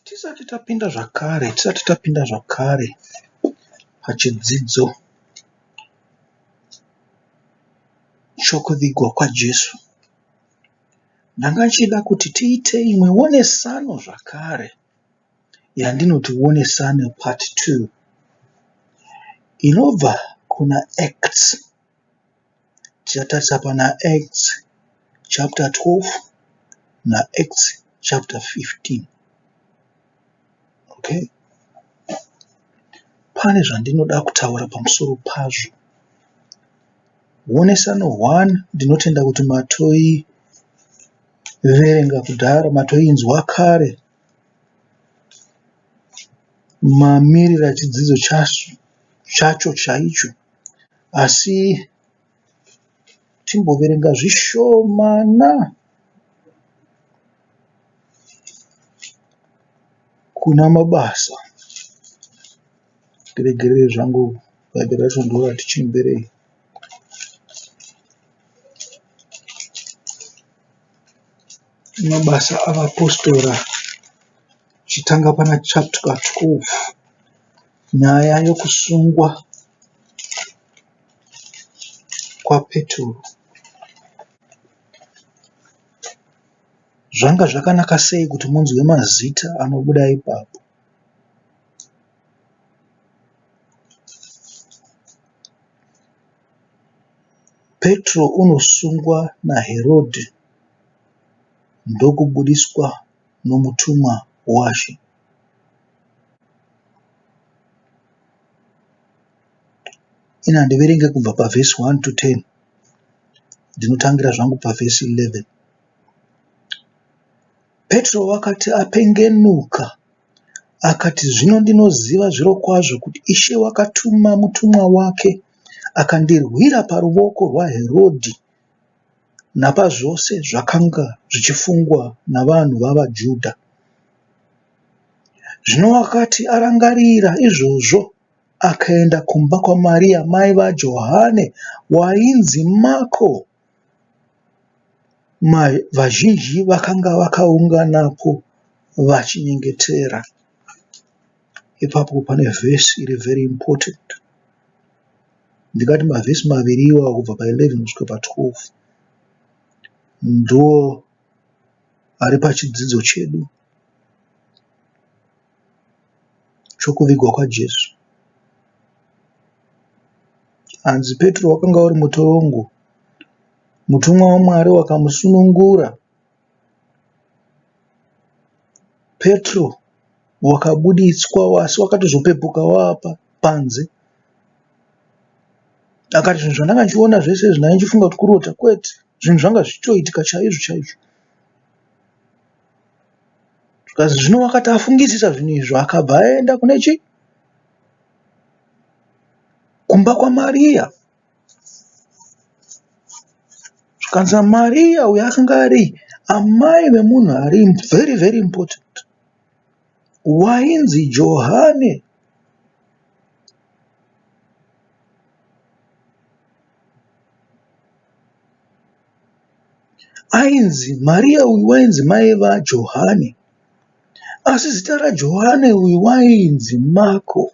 Tisati tapinda zvakare, tisati tapinda zvakare pachidzidzo chokuvigwa kwaJesu, ndanga ndichida kuti tiite imwe onesano zvakare yandinoti onesano part two inobva kuna Acts Tichatarisa pana Acts chapter 12 na Acts chapter 15 okay pane zvandinoda kutaura pamusoro pazvo wonesano one ndinotenda kuti matoi verenga kudhara matoinzwa kare Mamiriro echidzidzo chacho chaicho asi timboverenga zvishomana kuna Mabasa ndiregerere zvangu bhaibheri racho ndorati chembere. Mabasa aVapostora tichitanga pana chapter 12 nyaya yekusungwa kwaPeturu. Zvanga zvakanaka sei kuti munzwe mazita anobuda ipapo? Petro unosungwa naHerodhi ndokubudiswa nomutumwa waShe. Ini handiverenge kubva pavhesi 1 to 10 ndinotangira zvangu pavhesi 11. Petro wakati apengenuka akati, Zvino ndinoziva zvirokwazvo kuti Ishe wakatuma mutumwa wake akandirwira paruvoko rwaHerodhi napazvose zvakanga zvichifungwa navanhu vavaJudha. Zvino wakati arangarira izvozvo, akaenda kumba kwaMaria mai vaJohane wainzi Mako. Vazhinji vakanga vakaunganapo vachinyengetera. Ipapo pane verse iri very important ndingati mavhesi maviri iwawo kubva pa 11 kusvika pa 12 ndo ari pachidzidzo chedu chokuvigwa kwaJesu. Hanzi Petro wakanga uri mutorongo, mutumwa waMwari wakamusunungura. Petro wakabuditswa asi wakatozopepuka wava apa panze. Akati zvinhu zvandanga ndichiona zvese izvi ndanga ndichifunga kuti kurota kwete. Zvinhu zvanga zvichitoitika chaizvo chaizvo. Zvikanzi zvino wakati afungisisa zvinhu izvi akabva aenda kune chii? Kumba kwaMariya. Zvikanzi Maria uyu akanga ari amai vemunhu ari very very important wainzi Johane. Ainzi Maria uyu wainzi mai vaJohane asi zita raJohane uyu wainzi Marko.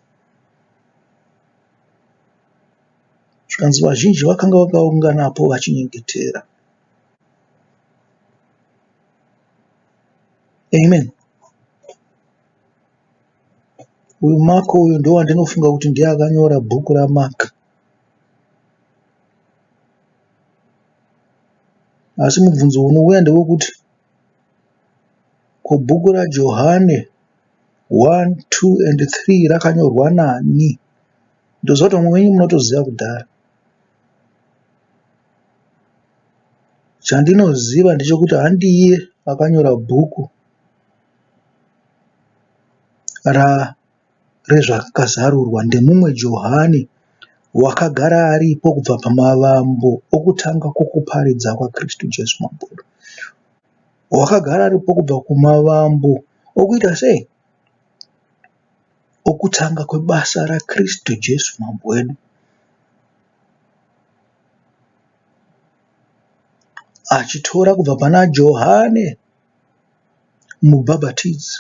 Zvikanzi vazhinji vakanga vakaunganapo vachinyengetera. Amen. Uyu Mark uyu ndowandinofunga kuti ndiye akanyora bhuku raMark. Asi mubvunzo unouya ndewekuti ko bhuku raJohane 1, 2 and 3 rakanyorwa nani? Ndoziva kuti vamwe venyu munotoziva kudhara. Chandinoziva ndechekuti handiye akanyora bhuku ra rezvakazarurwa ndemumwe Johani wakagara aripo kubva pamavambo okutanga kwokuparidza kwaKristu Jesu Mambo wedu. Wakagara aripo kubva kumavambo okuita sei? Okutanga kwebasa raKristu Jesu Mambo wedu, achitora kubva pana Johane Mubhabhatidzi,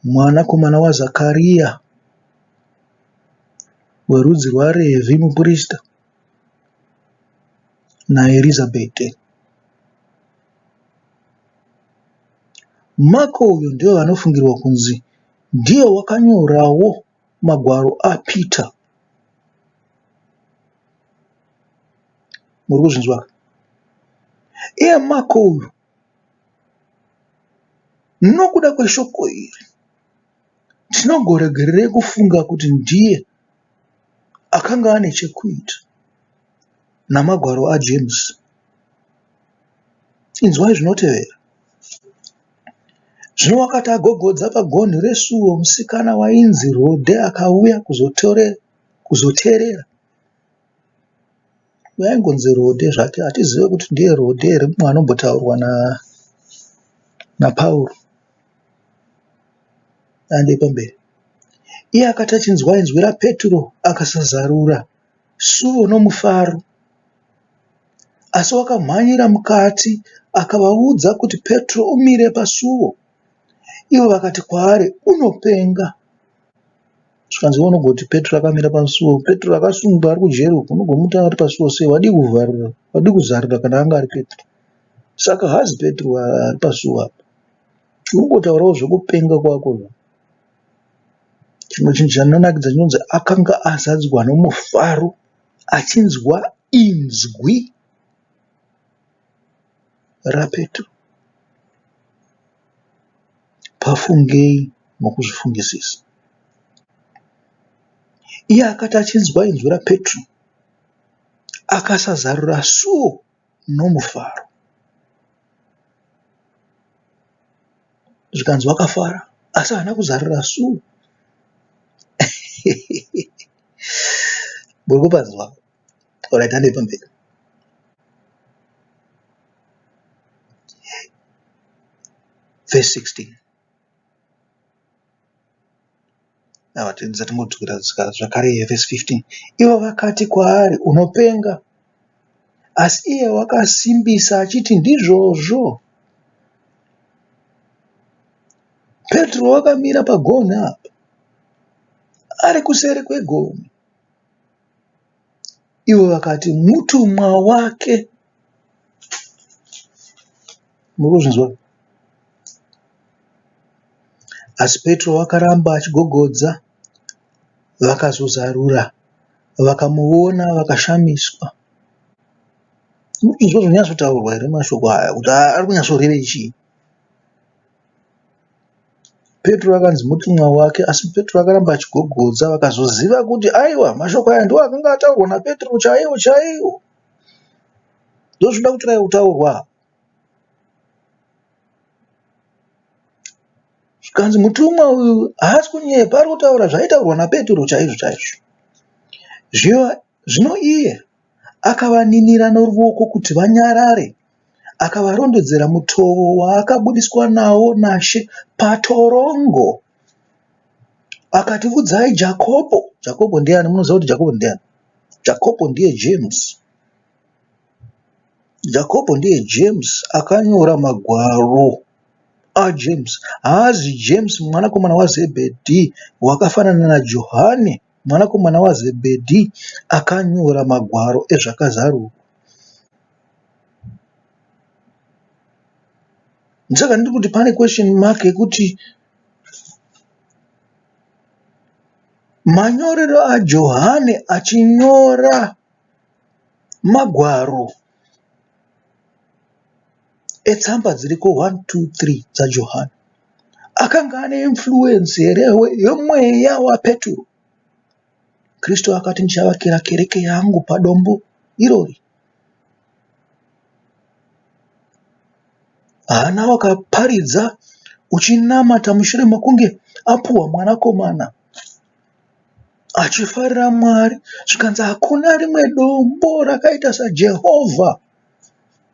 mwanakomana waZakariya, werudzi rwaRevhi, muprista, naErizabete. Mako uyu ndivo vanofungirwa kunzi ndiye wakanyorawo magwaro aPeter. Muri kuzvinzwa? Iye Mako uyu nokuda kweshoko iri Ndinongoregererei kufunga kuti ndiye akanga ane chekuita namagwaro aJames. Inzwai zvinotevera. Zvino wakati agogodza pagonhi resuo, musikana wainzi Rode akauya kuzoteerera Uyu aingonzi Rode zvake hatizive kuti ndiye Rode here mumwe anombotaurwa naPaul aende pamberi. Iye akati achinzwa inzwi raPetro akasazarura suo nomufaro asi wakamhanyira mukati akavaudza kuti Petro umire pasuo. Ivo vakati kwaari, Unopenga! zvikanzi iwe unogoti Petro akamira pasuo Petro akasungwa ari kujeri uko unogomuti anga ari pasuo sei wadii kuvharira wadii kuzarira kana anga ari Petro saka haazi Petro ari pasuo apa unongotaurawo zvekupenga kwako chimwe chinhu chandinonakidza chinonzi akanga azadzwa nomufaro achinzwa inzwi raPetro, pafungei nokuzvifungisisa. Iye akati achinzwa inzwi raPetro, akasazarura suo nomufaro, zvikanzi wakafara, asi haana kuzarura suo. Muri kupanzwa? Alright, handei pamberi. Verse 16. Ava tinza tingodzokera zvakare verse 15. Ivo vakati kwaari unopenga asi iye wakasimbisa achiti ndizvozvo. Petro wakamira pagonhi apa ari kuseri kwegonhi Ivo vakati, Mutumwa wake. Muri kuzvinzwa here? Asi Petro akaramba achigogodza. Vakazozarura vakamuona vakashamiswa. Muri kuzvinzwa zviri kunyatsotaurwa here mashoko aya kuti ari kunyatsorevei chii? Petro akanzi mutumwa wake, asi Petro akaramba achigogodza. Vakazoziva kuti aiwa, mashoko aya ndiwo akanga ataurwa naPetro chaiwo chaiwo. Ndozvinoda kutiraya kutaurwa. Zvikanzi mutumwa uyu haasi kunyepa, ari kutaura zvaitaurwa naPetro chaizvo chaizvo. Zvino iye akavaninira noruoko kuti vanyarare. akavarondedzera mutovo waakabudiswa nawo naShe patorongo akati, Udzai Jakobho. Jakobho ndiani? Munoziva kuti Jakobho ndiani? Jakobho ndiye James. Jakobho ndiye James akanyora magwaro aJames. Haazi James mwanakomana waZebhedhi wakafanana naJohani. mwanakomana waZebhedhi akanyora magwaro ezvakazarurwa. Ndosaka ndiri kuti pane question mark yekuti manyorero aJohane achinyora magwaro etsamba dziriko hwani tuu three dzaJohani akanga ane influence here yemweya waPeturu? Kristu akati ndichavakira kereke yangu padombo irori. Hana wakaparidza uchinamata mushure mekunge apuwa mwanakomana achifarira Mwari zvikanzi hakuna rimwe dombo rakaita saJehovha.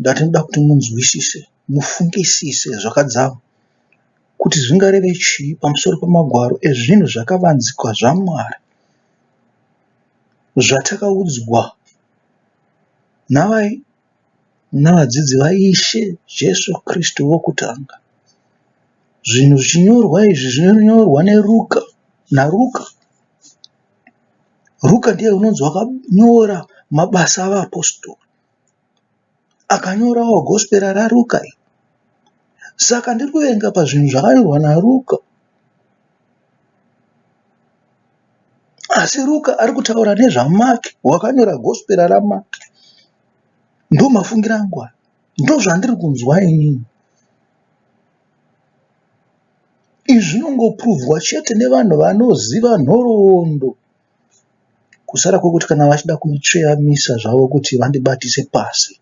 ndatinoda kuti munzwisise mufungisise zvakadzama kuti zvingareve chii pamusoro pemagwaro ezvinhu zvakavanzika zvamwari zvatakaudzwa navai navadzidzi vaIshe Jesu Kristu vokutanga. Zvinhu zvichinyorwa izvi zvinonyorwa neRuka naRuka. Ruka ndiye unonzi wakanyora mabasa avapostori. Akanyorawo gospera raRuka iri. Saka ndiri kuverenga pazvinhu zvakanyorwa naRuka. Asi Ruka ari kutaura nezvaMark wakanyora gospera raMark. Ndomafungiro angu aya. Ndozvandiri kunzwa inini. Izvi zvinongopuruvhwa chete nevanhu vanoziva nhoroondo kusara kwekuti kana vachida kuitsveyamisa zvavo kuti vandibatise pasi.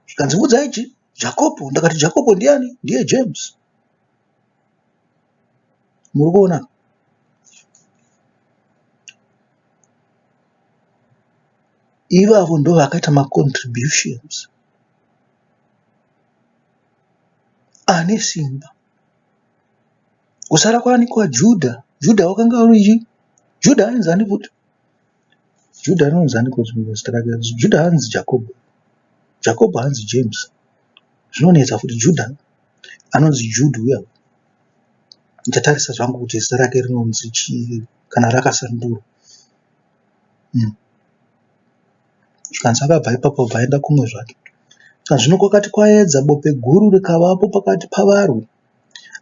Zvikanzi muudzayi kuti Jakopo ndakati Jakopo ndiyani ndiye James muri kuona ivavo ndovakaita macontributions ane simba kusara kwaani kwaJudha Judha wakanga uri Judha ainzi ani futi Juda anonzi ani coz rimwe zita rake Juda haanzi Jakobho, Jakobho haanzi James zvinonetsa futi Juda anonzi Jude uya uya ndichatarisa zvangu kuti zita rake rinonzi chii kana rakasandurwa umm zvikanzi akabva ipapo obva aenda kumwe zvake zvino kwakati kwaedza bope guru rikavapo pakati pavarwi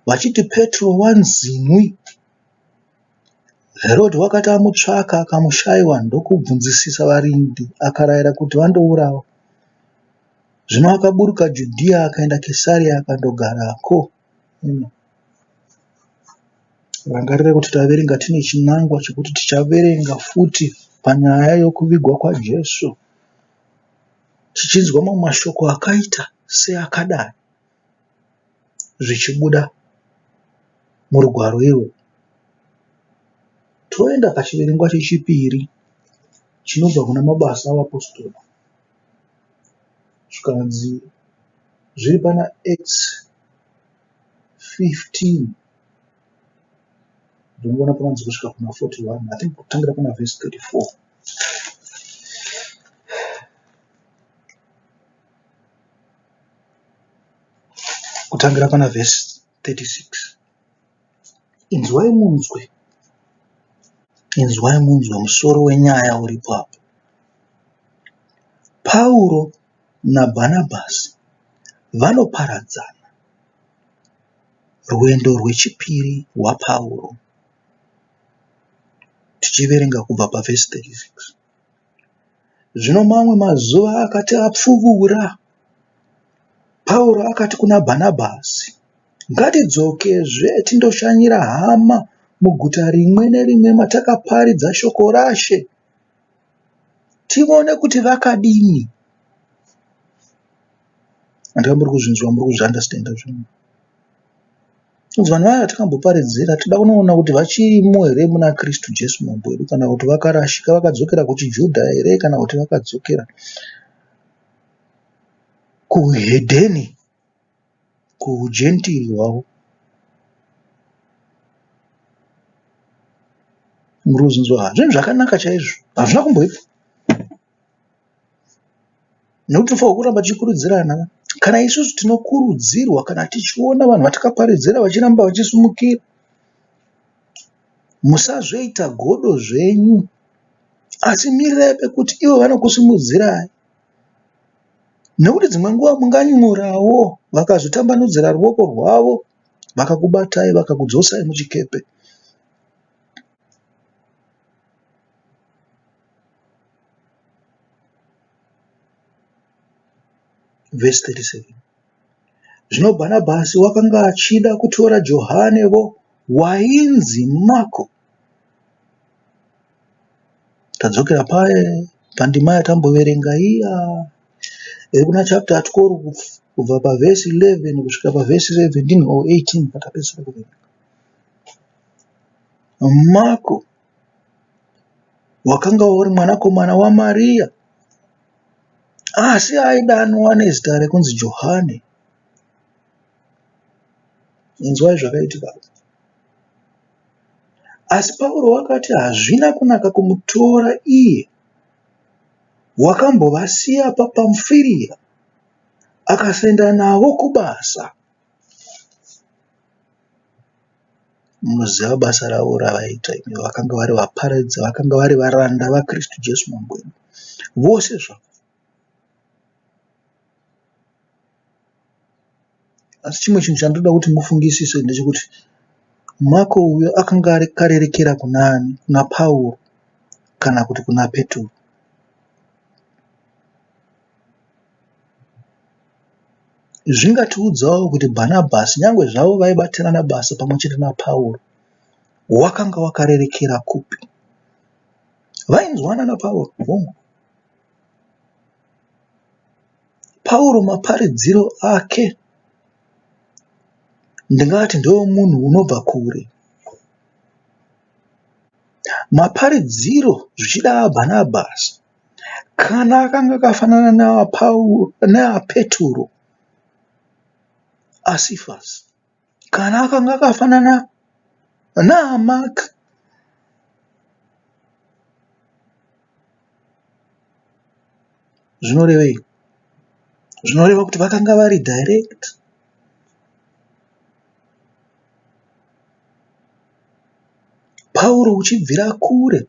vachiti Petro wanzimwi Herodhi wakati amutsvaka akamushaiwa ndokubvunzisisa varindi, akarayira kuti vandourawa. Zvino akaburuka Judhiya akaenda Kesaria akandogarako. Rangarira kuti taverenga tine chinangwa chekuti tichaverenga futi panyaya yokuvigwa kwaJesu tichinzwa mamwe mashoko akaita seakadai. zvichibuda murugwaro irwu. Toenda pachiverengwa chechipiri chinobva kuna Mabasa aVapostora zvikanzi zviri pana Acts 15 ndinoona pakanzi kusvika kuna 41 I think kutangira pana vhesi 34. kutangira pana vhesi 36 inzwai munzwe inzwai munzwe musoro wenyaya uripo apo pauro nabhanabhasi vanoparadzana rwendo rwechipiri rwapauro tichiverenga kubva pavhesi 36 Zvino mamwe mazuva akati apfuura, Pauro akati kuna Bhanabhasi, Ngatidzokezve tindoshanyira hama muguta rimwe nerimwe matakaparidza shoko raShe, tivone kuti vakadini. Handika muri kuzvinzwa, muri kuzviandastenda zvinhu. Inzwa nhai yatakamboparidzira, tinoda kunoona kuti vachirimo here muna Kristu Jesu Mambo wedu kana kuti vakarashika vakadzokera kuchiJudha here kana kuti vakadzokera kuhedheni, kuhujentiri hwavo. Muruzi inzwa, zvinhu zvakanaka chaizvo hazvina kumboitwa. Nekuti for kuramba tichikurudzirana kana isusu tinokurudzirwa kana tichiona vanhu vatakaparidzira vachiramba vachisimukira. Musazoita godo zvenyu asi mirirai pekuti ivo vanokusimudzirai nekuti dzimwe nguva munganyurawo vakazotambanudzira ruoko rwavo vakakubatai vakakudzosai muchikepe. vhesi 37 zvino bhanabhasi wakanga achida kutora johane vo wainzi mako tadzokera paye pandima yatamboverenga iya iri kuna chapter atikori kubva pavhesi 11 kusvika pavhesi 17 or 18 patapedzisira kuverenga mako Wakanga uri mwanakomana waMariya, asi aidanwa nezita rekunzi Johane. Inzwai zvakaitika. Asi Pauro wakati hazvina kunaka kumutora iye. Wakambovasiya paPamfiria akasaenda navo kubasa. Munoziva basa ravo ravaiita imi. Vakanga vari vaparidzi, vakanga vari varanda vaKristu Jesu Mambo wedu. Vose zvavo. Asi chimwe chinhu chandoda kuti mufungisise ndechekuti Mako uyo akanga ari karerekera kuna ani? Kuna Pauro kana kuti kuna Petro? zvingatiudzawo kuti Bhanabhasi, nyange zvavo vaibatirana basa pamwe chete naPauro, wakanga wakarerekera kupi? Vainzwanana naPauro, hongu. Pauro maparidziro ake ndingati ndeomunhu unobva kure. Maparidziro zvichida aBhanabhasi Kana kanga kafanana neaPeturo aSifasi, kana kanga kafanana naaMaki, zvinorevei? Zvinoreva kuti vakanga vari direct Pauro uchibvira kure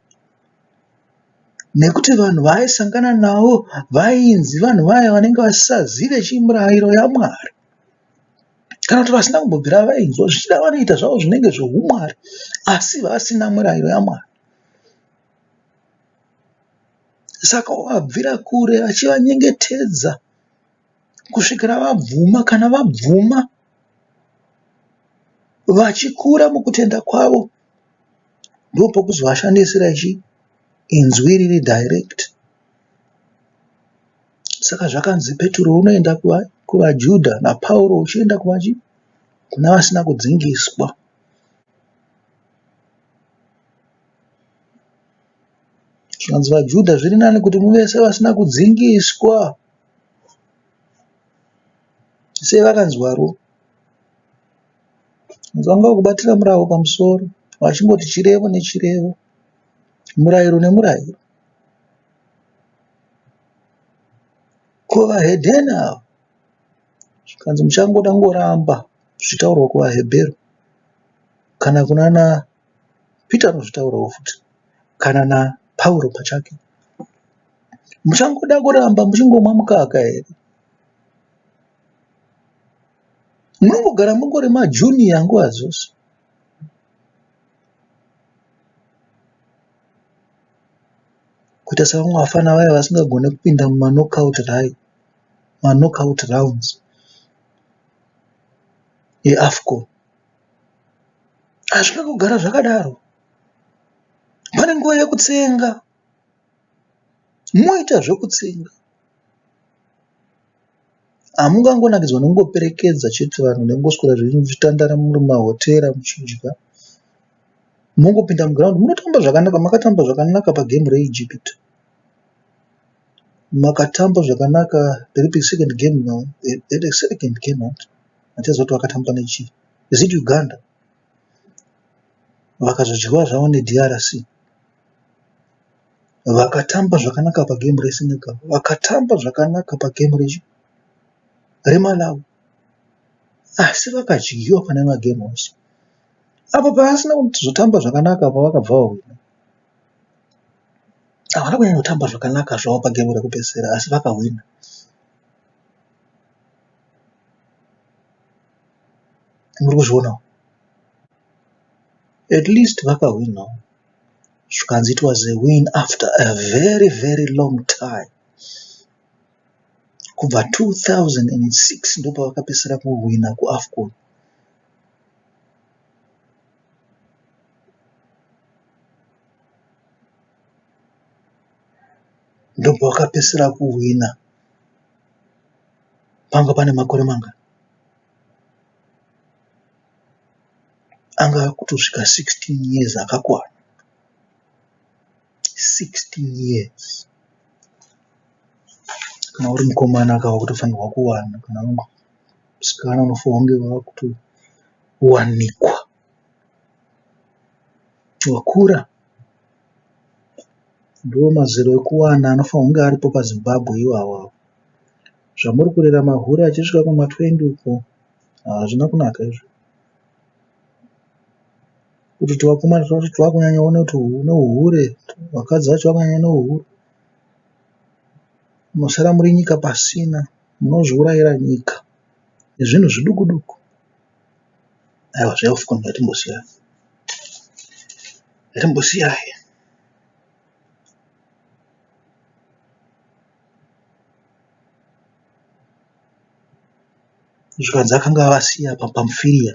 nekuti vanhu vaaisangana navo vainzi vanhu vaya vanenge vasisazive chii mirairo yaMwari kana kuti vasina kumbobvira vainzwa zvichida vanoita zvavo zvinenge zvoumwari asi vasina mirairo yaMwari. Saka wabvira kure achivanyengetedza kusvikira vabvuma. Kana vabvuma vachikura mukutenda kwavo, ndopokuzovashandisira zvichi inzwi riri direct saka zvakanzi Peturo unoenda kuvaJudha naPauro uchienda kuvachi kuna vasina kudzingiswa zvikanzi vaJudha zviri nani kuti muvese vasina kudzingiswa sei vakanzwaro Vanzwa kubatira murau pamusoro vachingoti chirevo nechirevo, murairo nemurairo. Ko vahedheni ava zvikanzi muchangoda kungoramba zvichitaurwa kuvaHebheru kana kunana Pita anozvitaurawo futi kana naPauro pachake. Muchangoda kuramba muchingomwa mukaka here? Munongogara mungori ma junior nguva dzose. Kuita sevamwe vafana vaya vasingagone kupinda muma knockout rai ma knockout rounds e Afcon. Hazvina kugara zvakadaro. Pane nguva yekutsenga. Moita zvekutsenga. Hamungangonakidzwa nekungoperekedza chete vanhu nekungoswera zvenyu muchitandara muri mumahotera muchidya. Mongopinda muground munotamba zvakanaka. Makatamba zvakanaka pagame reEgypt. Makatamba zvakanaka riripi second game now. They had a second game right? Hatiziva kuti vakatamba nechii. Is it Uganda? vakazodyiwa zvavo neDRC. Vakatamba zvakanaka pagemu reSenegal, vakatamba zvakanaka pagemu reMalawi asi vakadyiwa pane magemu ose. Apo pavasina kuzotamba zvakanaka apo vakabva vahwina. Havana kunyanyotamba zvakanaka zvavo pagemu rekupedzisira asi vakahwina. muri kuzvionawo at least vakahwinawo zvikanzi it was a win after a very very long time kubva 2006 ndopavakapesera kuhwina kuafcon ndobva wakapesera kuhwina panga pane makore manga anga akutosvika 16 years akakwana 16 years kana uri mukomana aka wakutofanirwa kuwana kana uri musikana unofanirwa kunge wakutowanikwa wakura ndiwo mazera ekuwana anofanirwa kunge aripo paZimbabwe iwawawo. Zvamuri kurera mahure achisvika kuma 20 uko hazvina kunaka izvo. Kuti tuvakomana twacho twakunyanya one kuti une uhure, vakadzi vacho vakunyanya ne uhure. Masara muri nyika pasina, munozviurayira nyika nezvinhu zviduku duku. Aiwa zve AFCON ngatimbosiya. Ngatimbosiya. Mhuka dzakanga vasiya apa pamufiriya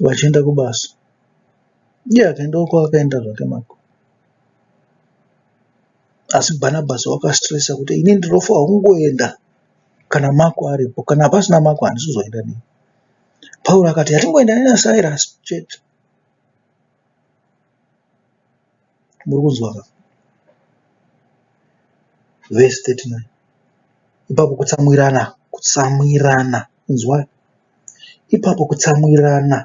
vachienda kubasa. Iye akaenda kwaakaenda zvake mako asi Bhanabhasi wakasitiresa kuti ini ndinofa honguenda kana Mako aripo kana pasina Mako handisi kuzoenda neni. Pauro akati hatingoendani naSirasi chete. Muri kunzwa ka? Verse 39 ipapo kutsamwirana, kutsamwirana, inzwai, ipapo kutsamwirana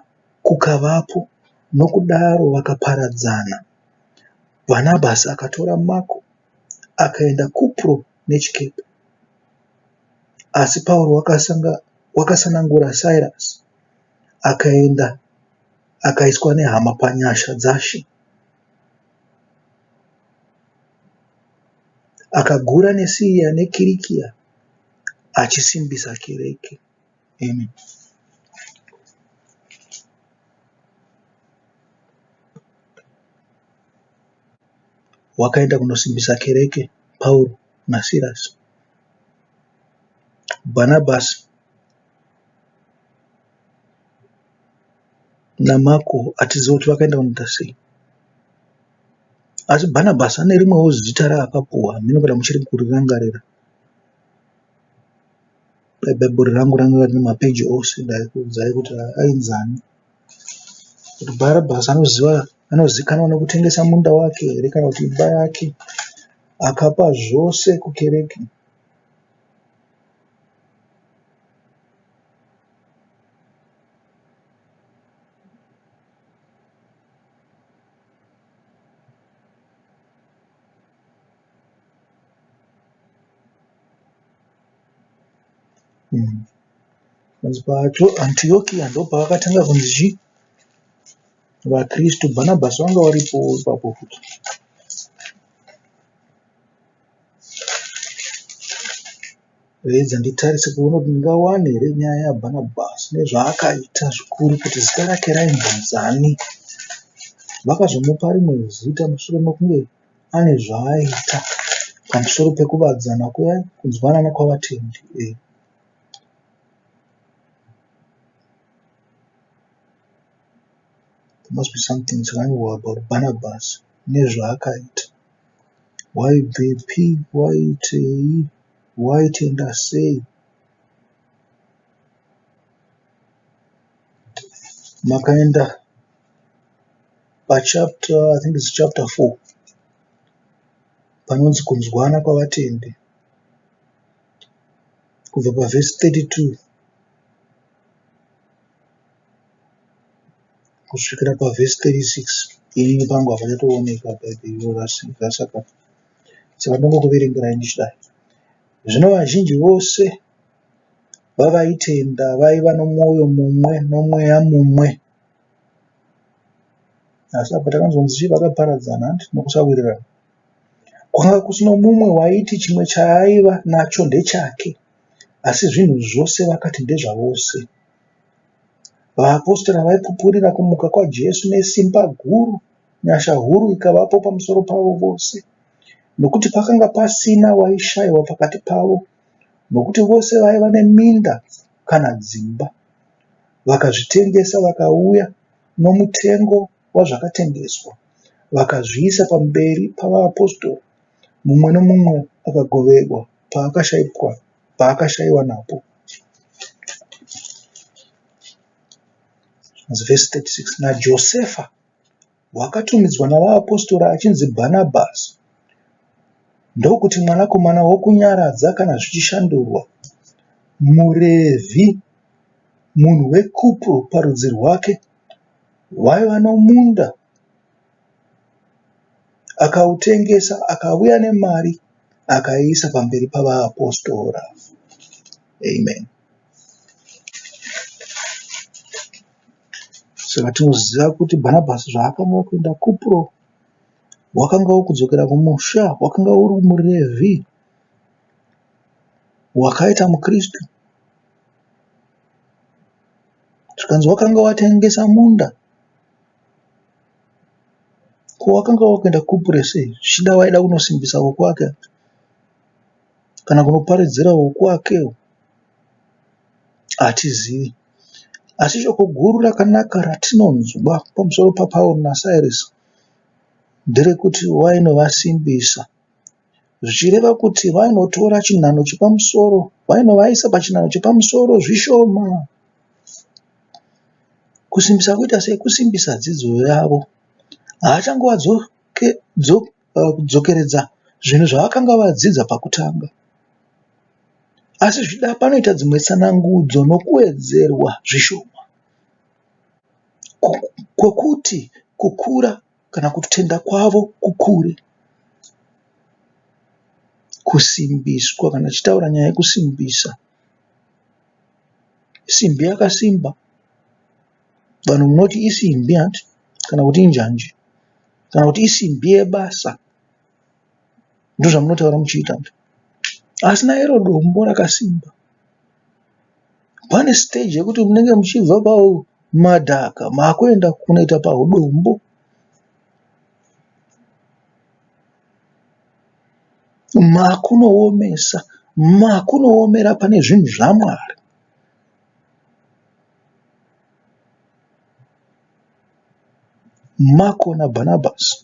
kukavapo, nokudaro vakaparadzana. Bhanabhasi akatora Mako akaenda Kupro nechikepe, asi Pauro wakasanangura Sirasi akaenda Akaiswa nehama panyasha dzashe. Akagura neSiria neKirikia achisimbisa kereke. Amen. Wakaenda kunosimbisa kereke Pauro naSirasi. Bhanabhasi naMako achiziva kuti vakaenda kunoita sei. Asi Bhanabhasi ane rimwewo zita raakapuhwa hameno kana muchiri kurirangarira. Dai bhaibheri rangu ranga rine mapeji ose ndaikuudzai kuti ainzi ani. Kuti Bhanabhasi anoziva anozikanwa nekutengesa munda wake here kana kuti imba yake akapa zvose kukereke. panzi pacho antiokia ndopavakatanga kunzi chi vakristu bhanabhasi vanga varipo ipapo futi Reidza nditarise kuona kuti ndingawane here nyaya yaBhanabhasi nezvaakaita zvikuru kuti zita rake raimbonzi ani. Vakazomupa rimwe zita mushure mekunge ane zvaaita pamusoro pekuvadzana kuya kunzwanana kwavatendi. Eh. There must be something zvakanyorwa about Barnabas nezvaakaita. Waibvepi, waitei, waitenda sei? Makaenda pachapter I think it's chapter 4 panonzi kunzwana kwavatendi kubva pavhesi 32 kusvikira pavhesi 36 ini pangu hapachatoonekwa bhaibheri iro rasakapa saka ndongokuverengerai ndichidai zvino vazhinji vose vavaitenda vaiva nomwoyo mumwe nomweya mumwe asi apa takanzonzi chii vakaparadzana handi nokusawirirana kwanga kusino mumwe waiti chimwe chaaiva nacho ndechake asi zvinhu zvose vakati ndezvavose Vaapostora vaipupurira kumuka kwaJesu nesimba guru, nyasha huru ikavapo pamusoro pavo vose, nokuti pakanga pasina waishaiwa pakati pavo, nokuti vose vaiva neminda kana dzimba, vakazvitengesa vakauya nomutengo wazvakatengeswa, vakazviisa pamberi pavaapostora, mumwe nomumwe akagoverwa paakashaiwa napo. Verse 36 naJosefa wakatumidzwa navaapostora achinzi Bhanabhasi ndokuti mwanakomana wokunyaradza kana zvichishandurwa murevhi munhu wekupro parudzi rwake waiva nomunda Akautengesa akauya nemari akaiisa pamberi pavaapostora. Amen. Saka tinoziva kuti Bhanabhasi zvaakanga kuenda Kupro, wakanga wokudzokera kumusha, wakanga uri muRevhi wakaita muKristu. Zvikanzi wakanga watengesa munda Ko wakanga wakaenda kure sei zvichida waida kunosimbisa wekwake kana kunoparidzira wekwake hatizivi asi shoko guru rakanaka ratinonzwa pamusoro paPauro naSirasi nderekuti wainovasimbisa. zvichireva kuti vainotora chinhanho chepamusoro vainovaisa pachinhanho chepamusoro zvishoma kusimbisa kuita sei kusimbisa dzidzo yavo haachangovadzokeredza eh, zvinhu zvavakanga vadzidza pakutanga asi zvida panoita dzimwe tsanangudzo nokuwedzerwa zvishoma kwokuti kukura kana kutenda kwavo kukure kusimbiswa kana tichitaura nyaya yekusimbisa simbi yakasimba vanhu munoti isimbi hanti kana kuti injanji kana kuti isimbi yebasa ndozvamunotaura muchiita asi nairo dombo rakasimba Pane stage yekuti munenge muchibva pamadhaka makuenda kunoita pahudombo. Makunoomesa, makunoomera pane zvinhu zvaMwari. Mako naBhanabhasi.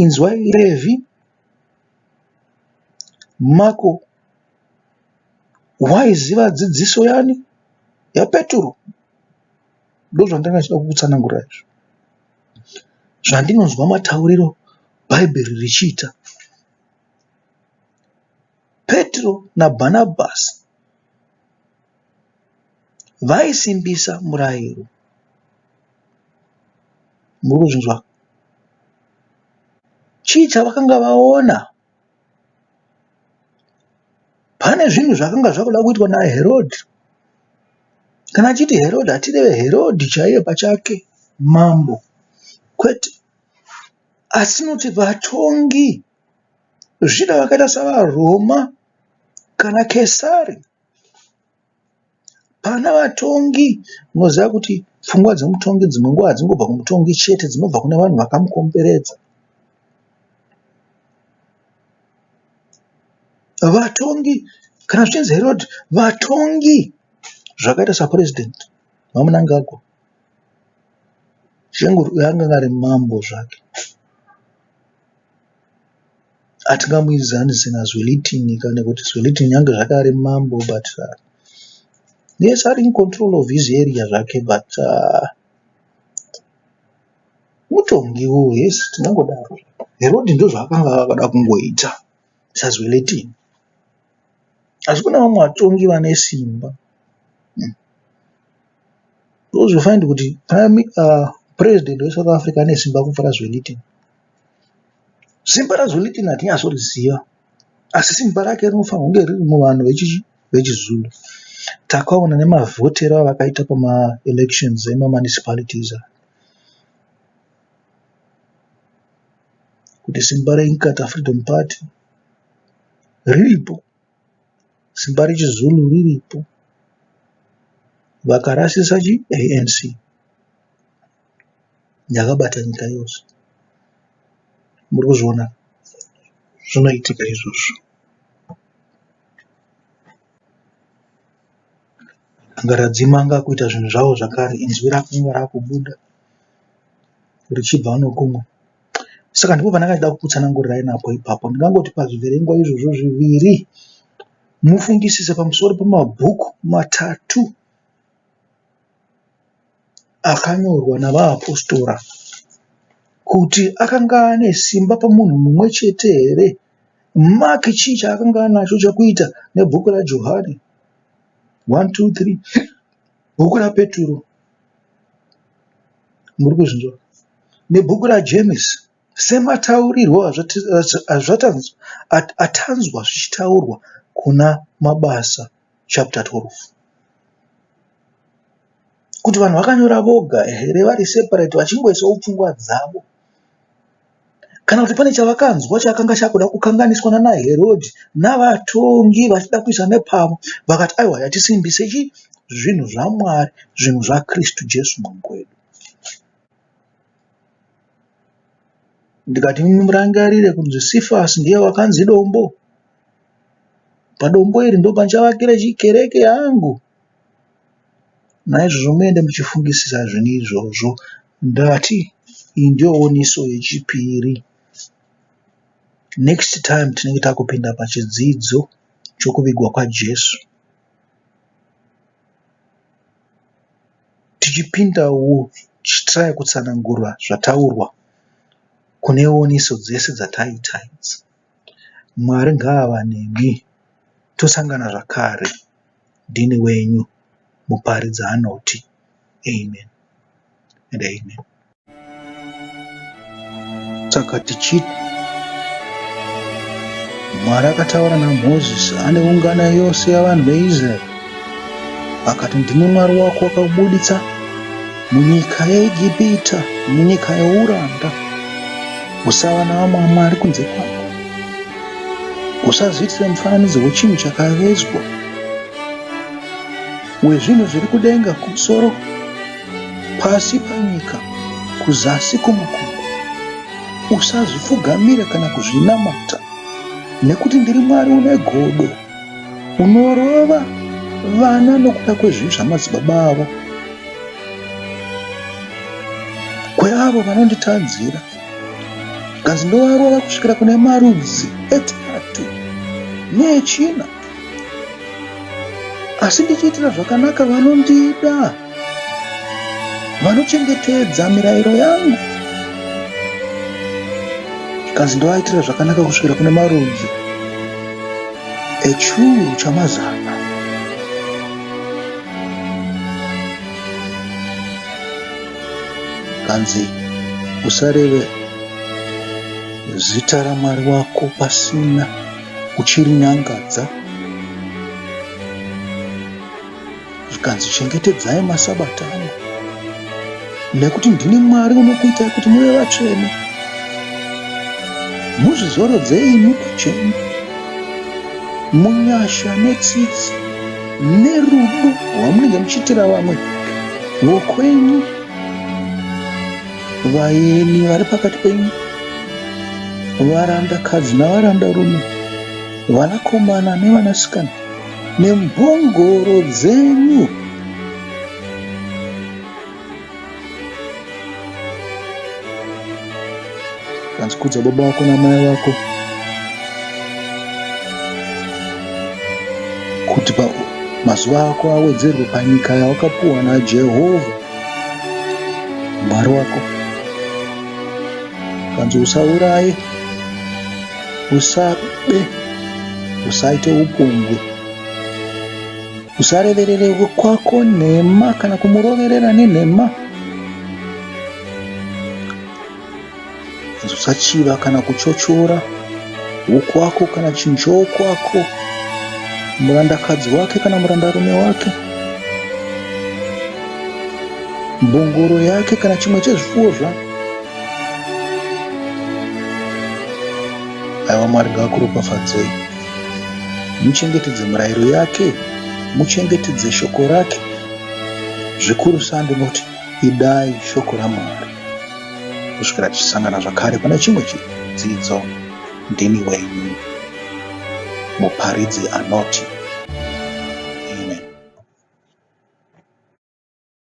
Inzwai Revhi, Mako Waiziva dzidziso yani yaPeturo? Ndozvandanga ndichida kukutsanangurira izvo. Zvandinonzwa matauriro Bhaibheri richiita. Peturo naBhanabhasi vaisimbisa murayiro. Muri kuzvinzwa? Chii chavakanga vaona? pane zvinhu zvakanga zvakuda kuitwa naherodhi kana achiti herodhi hatireve herodhi chaiye pachake mambo kwete asi noti vatongi zvida vakaita savaroma kana kesari Pana vatongi unoziva kuti pfungwa dzemutongi dzimwe nguva hadzingobva kumutongi chete dzinobva kune vanhu vakamukomberedza. Vatongi kana zvichinzi Herod vatongi zvakaita saPresident VaMnangagwa Shenguru uyo anenge ari mambo zvake. Hatingamuidzani zina Zwelithini ka nekuti Zwelithini nyange zvake ari mambo but yes ari in control of his area zvake but mutongi wo yes tinongodaro. Herodhi ndozvaakanga akada kungoita saZwelithini asi kune vamwe vatongi vane simba hmm. because you find kuti prime uh, president weSouth Africa ane simba kupfura Zwelithini. Simba raZwelithini hatinyatsoriziva asi simba rake rinofanirwa kunge riri muvanhu vechiZulu. Takaona nemavhotero avakaita pamaelections emamunicipalities aya kuti simba reInkatha Freedom Party riripo, simba rechiZulu riripo, vakarasisa chiANC. yakabata nyika yose muri kuzviona zvinoitika izvozvo angaradzimanga kuita zvinhu zvavo zvakare inzwi rakunge rakubuda richibva nokumwe saka ndipo pandakachida kukutsanangurirai napo ipapo ndingangoti pazviverengwa izvozvo zviviri mufungisise pamusoro pemabhuku matatu akanyorwa navaapostora kuti akanga ane simba pamunhu mumwe chete here? Mark chii chaakanga anacho chekuita nebhuku raJohani? 1 2 3 bhuku raPeturo muri kuzvinzwa nebhuku raJemesi semataurirwo atanzwa zvichitaurwa kuna Mabasa chapter 12. Kuti vanhu vakanyora voga here vari separate vachingoisawo pfungwa dzavo kana kuti pane chavakanzwa chakanga chakuda kukanganiswa nana Herodhi navatongi vachida kuisa nepavo vakati aiwa yatisimbise chi zvinhu zvaMwari zvinhu zvaKristu Jesu mambo wedu. ndikati murangarire kunzi Cephas ndiye wakanzi dombo padombo iri ndopandichavakira kereke yangu naizvozvo muende muchifungisisa zvinhu izvozvo ndati iyi ndiyo oniso yechipiri next time tinenge takupinda pachidzidzo chokuvigwa kwajesu Tichipindawo tichitry kutsanangura zvataurwa kune oniso dzese dzataita idzi. Mwari ngaava nemi tosangana zvakare ndini wenyu Muparidzanoti Amen and Amen. Saka tichiti Mwari akataura naMozisi ane ungano yose yavanhu veIsraeri akati, Ndimwe Mwari wako wakabuditsa munyika yeIgipita, munyika youranda. Usava navamwe Mwari kunze kwangu. Usazviitire mufananidzo wechinhu chakavezwa. Wezvinhu zviri kudenga kumusoro, pasi panyika, kuzasi kumakomo. Usazvipfugamira kana kuzvinamata, nekuti ndiri Mwari une godo, unorova vana nokuda kwezvivi zvamadzibaba avo, kweavo vanonditadzira, zvikanzi ndovarova kusvikira kune marudzi etatu neechina. asi ndichiitira zvakanaka vanondida vanochengetedza mirayiro yangu zvikanzi ndovaitira zvakanaka kusvikira kune marudzi echuru chamazana kanzi usareve zita ramwari wako pasina Uchirinyangadza zvikanzi, Chengetedzai masabata angu, nekuti ndini Mwari unokuitai kuti muve vatsvene. Muzvizorodzei imi pachenyu munyasha netsitsi nerudo rwamunenge muchiitira vamwe vokwenyu Vaeni vari pakati penyu, varandakadzi navarandarume, vanakomana nevanasikana, nemhongoro dzenyu. Kanzi kudza baba vako namai vako kuti mazuva ako awedzerwe panyika yawakapuwa naJehovha. Mwari wako kanzi usauraye, usabe, usaite upombwe, usareverere kwako nhema kana kumuroverera nenhema. Usachiva kana kuchochora huku wako kana chinjoo kwako, murandakadzi wake kana murandarume wake, mbongoro yake kana chimwe chezvipfuwo zvako. Aiwa Mwari ngavakuropafadzei, muchengetedze murayiro yake, muchengetedze shoko rake zvikuru sa ndinoti Idai shoko raMwari kusvikira tichisangana zvakare pane chimwe chidzidzo. Ndini wenyu muparidzi anoti